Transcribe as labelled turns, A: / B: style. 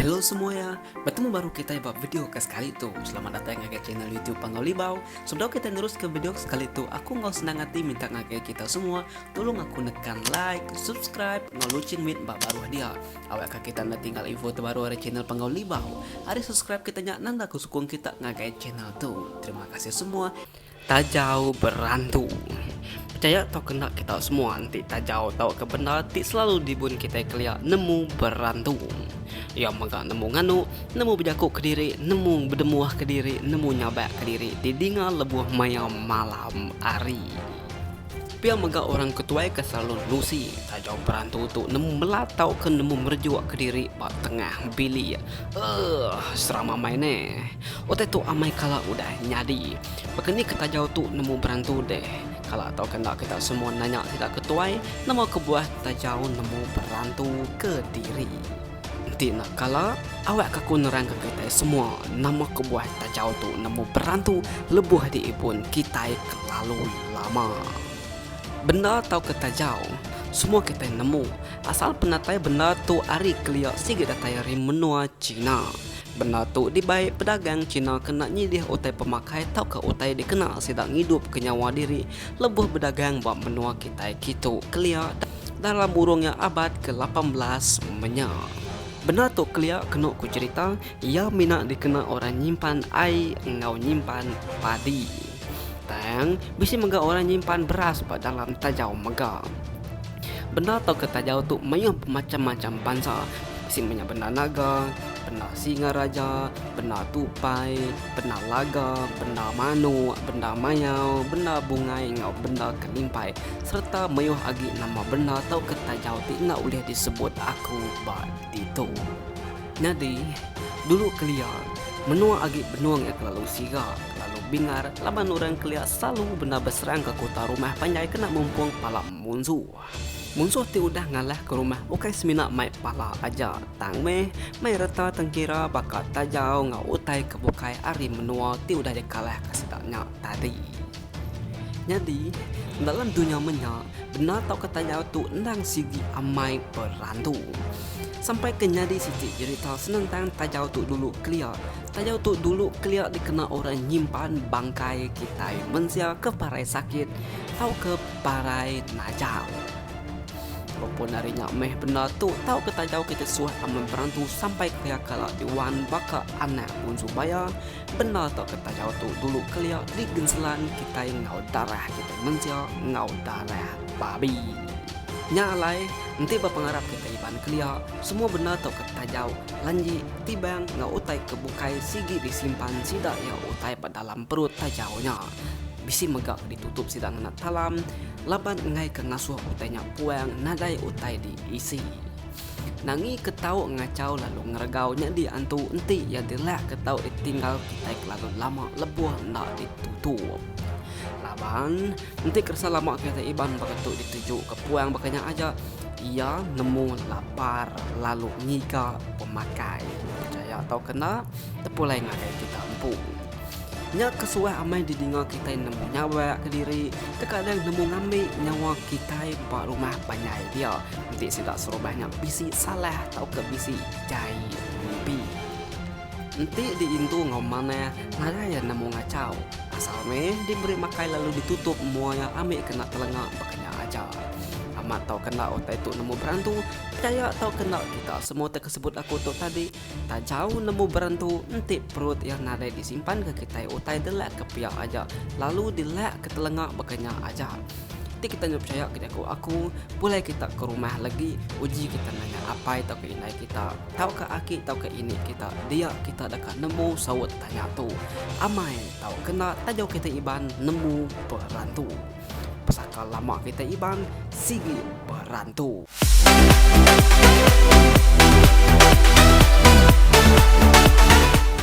A: Hello semua ya, bertemu baru kita ba video ke sekali tu. Selamat datang ngagai channel YouTube Panggau Libau. Sebelum kita nerus ke video ke sekali tu, aku enggau senang hati minta ngagai kita semua tolong aku nekan like, subscribe, enggau loceng mit ba baruh dia. Awak ka kita enda tinggal info terbaru ari channel Panggau Libau. Ari subscribe kita nya nanda ku sukung kita ngagai channel tu. Terima kasih semua. Tajau berantu. Percaya tau kena kita semua enti tajau tau ke benda ti selalu dibun kita kelia nemu berantu. Ia mega nemu nganu, nemu bejaku ke diri, nemu bedemuh ke diri, nemu nyabak ke diri didinga lebuh maya malam hari. Pia mega orang ke tuai ke selalu nerusi taja perantu tu nemu mela tauka nemu merejuk kediri ba tengah bilik. Ugh, seram amai neh. Utai tu amai kala udah nyadi. Baka ni ke taja tu nemu berantu deh. Kala tauka enda kita semua nanya sida ke tuai, nama kebuah taja nemu berantu kediri. Enti enda kala, awak ka ku nerangka kitai semua nama kebuah tajau tu nemu berantu lebuh diibun kitai kelalu lama. Bendar tauka tajau, semua kitai nemu, asal penatai bendar tu ari kelia sigi datai ari menua China. Bendar tu dibai pedagang China kena nyilih utai pemakai tauka utai dikena sida ngidupka nyawa diri lebuh bedagang ba menua kitai kitu kelia. dalam burung nya abad ke lapan belas menya. Bendar tu kelia kenu ku cherita iya mina dikena orang nyimpan ai enggau nyimpan padi. Tang bisi mega orang nyimpan beras ba dalam tajau mega. Bendar tauka tajau tu mayuh bemacham-macham bansa bisi menya bendar naga, bendar singa raja, bendar tupai, bendar laga, bendar manok, bendar mayau, bendar bungai enggau bendar kelimpai. sereta mayuh agi nama bendar tauka tajaw ti enda ulih disebut aku ba ditu. Nyadi, dulu kelia, menua agi benung iya kelalu siga, kelalu bingar laban orang kelia selalu bendar beserang ke kuta rumah panjai kena mumpung pala munsuh. Munsuh ti udah ngalah ke rumah ukai semina mai pala aja, tang meh mai reta tengkira baka tajaw enggau utai ke bukai ari menua ti udah dikalah ke sida nya tadi. Nyadi, dalam dunya menya, bendar tauka tayau tu endang sigi amai berantu. Sampai ke nyadi siti jerita senentang tayau tu dulu kelia. Tayau tu dulu kelia dikena orang nyimpan bangkai kitai mensia ke parai sakit tauka parai najal. Walaupun ari nya meh bendar tu tauka tayau kitai suah amai berantu sampai kelia kala di wan baka anak Unsu Baya, Bendar tu ke taja tu dulu kelia di genselan kitai enggau darah kitai mensia enggau darah babi. Nya alai enti ba pengarap kitai Iban kelia semua bendar tu ke taja lanji tibang enggau utai ke bukai sigi di simpan sida iya utai ba dalam perut taja nya bisi mega di tutup sida ngena talam laban enggai ke ngasuh utai nya puang nadai utai di isi. Nangi ke tau ngachau lalu ngeregau nya diantu enti iya delak ke tau ditinggal kitai kelalu lama lebuh enda ditutup. Laban, enti keresa lama kitai Iban baka tu ditujuka puang baka nya aja, iya nemu lapar lalu ngiga pemakai. Pechaya tauka enda, tepulai ngagai kita empu. Nya ke suah amai didinga kitai nemu nyawa kediri, tekadang nemu ngambi nyawa kitai ba rumah panjai dia enti sida serumah nya bisi salah tauka bisi jai mimpi. Enti diindu enggau manah, ngagai iya nemu ngachau. Asal meh diberi makai lalu ditutup mua iya ambi kena telenga baka nya aja. Amat tauka enda utai tu nemu berantu, pechaya tauka enda kita semua tekesebut aku tu tadi Tajau nemu beren tu enti perut iya nadai disimpan ke kitai utai delak ke pia aja lalu dilak ke telenga baka nya aja. Ti kitai nya pechaya ke jaku aku pulai kita ke rumah legi uji kita nanya apai tauka indai kita tauka aki tauka ini kita dia kita deka nemu saut tanya tu. Amai tau kena tajau kitai Iban nemu beren tu. Pesaka lama kitai Iban sigi berantu.